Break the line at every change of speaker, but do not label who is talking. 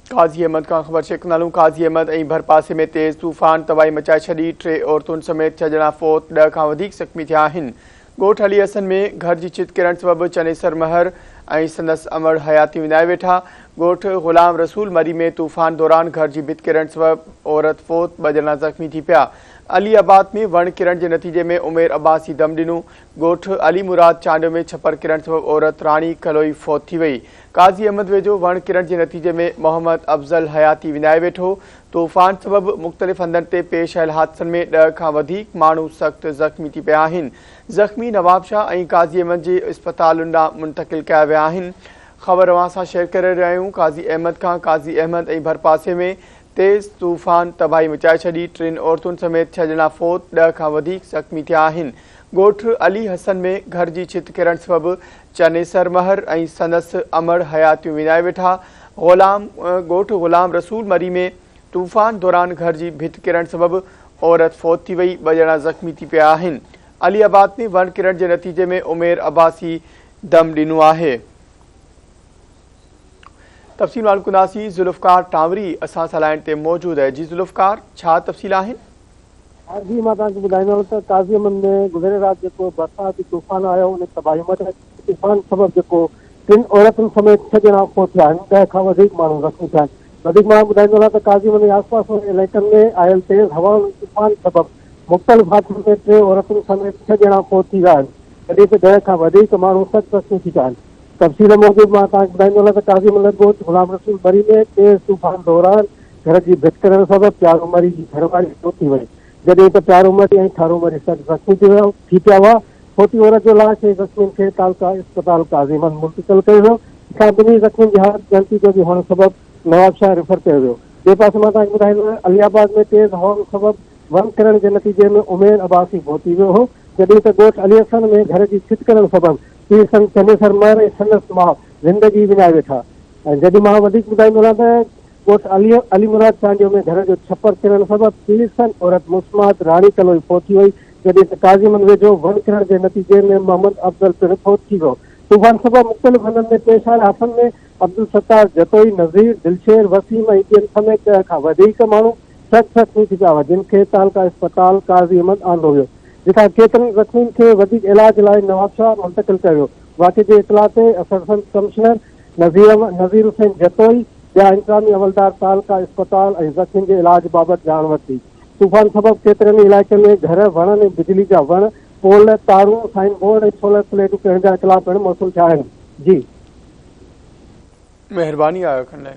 قاضي احمد کان خبر شيخ نالون قاضي احمد ۽ ڀرپاسي ۾ تيز طوفان تباهي مچائي ڇڏي، ٽي عورتن سميت ڇهه ڄڻا فوت، ڏهه کان وڌيڪ زخمي ٿيا آهن. ڳوٺ علي حسن ۾ گهر جي ڇت ڪرڻ سبب چنيسر مهر ۽ سندس امڙ حياتي وڃائي ويٺا، ڳوٺ غلام رسول مري ۾ طوفان دوران گهر جي ڀت ڪرڻ سبب عورت فوت، ٻه ڄڻا زخمي ٿي پيا، علي آباد ۾ وڻ ڪرڻ جي نتيجي ۾ عمير عباسي دم ڏنو، ڳوٺ علي مراد چانڊيو ۾ ڇپر ڪرڻ سبب عورت راڻي ڪلهوئي فوت ٿي وئي، قاضي احمد ويجهو وڻ ڪرڻ جي نتيجي ۾ محمد افضل حياتي وڃائي ويٺو، طوفان سبب مختلف هنڌن تي پيش آيل حادثن ۾ ڏهه کان وڌيڪ ماڻهو سخت زخمي ٿي پيا آهن، زخمي نوابشاهه ۽ قاضي احمد جي اسپتالن ڏانهن منتقل ڪيا ويا آهن. خبر اوهان سان شيئر ڪري رهيا آهيون قاضي احمد کان قاضي احمد ۽ ڀرپاسي ۾ تيز طوفان تباهي مچائي ڇڏي، ٽن عورتن سميت ڇهه ڄڻا فوت ڏهه کان وڌيڪ زخمي ٿيا آهن، ڳوٺ علي حسن ۾ گهر جي ڇت ڪرڻ سبب چنيسر مهر ۽ سندس امڙ حياتيون وڃائي ويٺا غلام ڳوٺ غلام رسول مري ۾ طوفان دوران گهر جي ڀت ڪرڻ سبب عورت فوت ٿي وئي ٻه ڄڻا زخمي ٿي پيا آهن علي آباد ۾ وڻ ڪرڻ جي نتيجي ۾ عمير عباسي دم ڏنو آهي تفصيل معلوم ڪنداسي ذوالفقار ٽانوري اسان سان لائن تي موجود آهي جي ذوالفقار ڇا تفصيل آهن ها جي
مان توهان کي ٻڌائيندو ته قاضي امن ۾ گذريل رات جيڪو برساتي طوفان آيو ان تباهي مچائي، طوفان سبب جيڪو ٽن عورتن سميت ڇهه ڄڻا فوت ٿيا آهن ڏهه کان وڌيڪ ماڻهو زخمي ٿيا آهن وڌيڪ ماڻهن ٻڌائيندو ته قاضي امن ۽ آس پاس وارن علائقن ۾ آيل تيز هوائن ۽ طوفان سبب مختلف حادثن ۾ ٽي عورتن سميت ڇهه ڄڻا فوت ٿي ويا آهن جڏهن ته ڏهه کان وڌيڪ ماڻهو سخت زخمي ٿي پيا آهن تفصيل موجب مان توهان کي ٻڌائيندو هلان ته قاضي امن ڳوٺ غلام رسول بري ۾ تيز طوفان دوران گهر جي ڀت ڪرڻ سبب پيارو مري جي گهر واري فوت ٿي وئي. جڏهن ته پيارو مري ۽ ٺارو مري سخت زخمي ٿي ويا ٿي پيا هئا. فوتي عورت جو لاش ۽ زخمين کي تعلقه اسپتال قاضي مل منتقل ڪيو ويو. جتان ٻنهي زخمين جي حالت ڳڻتي جوڳي هئڻ سبب نوابشاهه ريفر ڪيو ويو. ٻئي پاسي مان توهان کي ٻڌائي ڏيان علي آباد ۾ تيز هوائن سبب ون ڪرڻ جي نتيجي ۾ عمير عباسي فوت ٿي ويو هو. جڏهن ته ڳوٺ علي حسن ۾ گهر جي ڇت ڪرڻ سبب پيء سنگ چنيسر مئر ۽ سندس ماء زندگي وڃائي ويٺا. جيڏي مان وڌيڪ ٻڌائيندو رهان ته. ڳوٺ علي مراد چانڊيو ۾ گهر جو ڇپر ڪرڻ سبب سيليسن عورت مسمات راڻي ڪلوئي فوت ٿي وئي، جڏهن ته ڪازيمن ويجهو ون ڪرڻ جي نتيجي ۾ محمد افضل پڻ فوت ٿي ويو. طوفان سبب مختلف هنڌن ۾ پيش آيل حادثن ۾ عبدالستار جتوئي، نظير، دلشير، وسيم ۽ ٻين سميت ڏهه کان وڌيڪ ماڻهو سخت زخمي ٿي پيا هئا، جن کي تعلقه اسپتال قاضي احمد آندو ويو، جتان ڪيترن زخمين کي وڌيڪ علاج لاء نوابشاهه منتقل ڪيو ويو، واقعي جي اطلاع تي اسسٽنٽ ڪمشنر. نذير حسين جتوئي ٻيا انتظامي عملدار تعلقه اسپتال ۽ زخمين جي علاج بابت ڄاڻ ورتي. طوفان سبب ڪيترن ئي علائقن ۾ گهر، وڻن ۽ بجلي جا وڻ، پول، تارون، سائن بورڊ ۽ سولر پليٽون ڪرڻ جا اطلاع پڻ موصول ٿيا آهن. جي. مهرباني آء
اکن
لاء.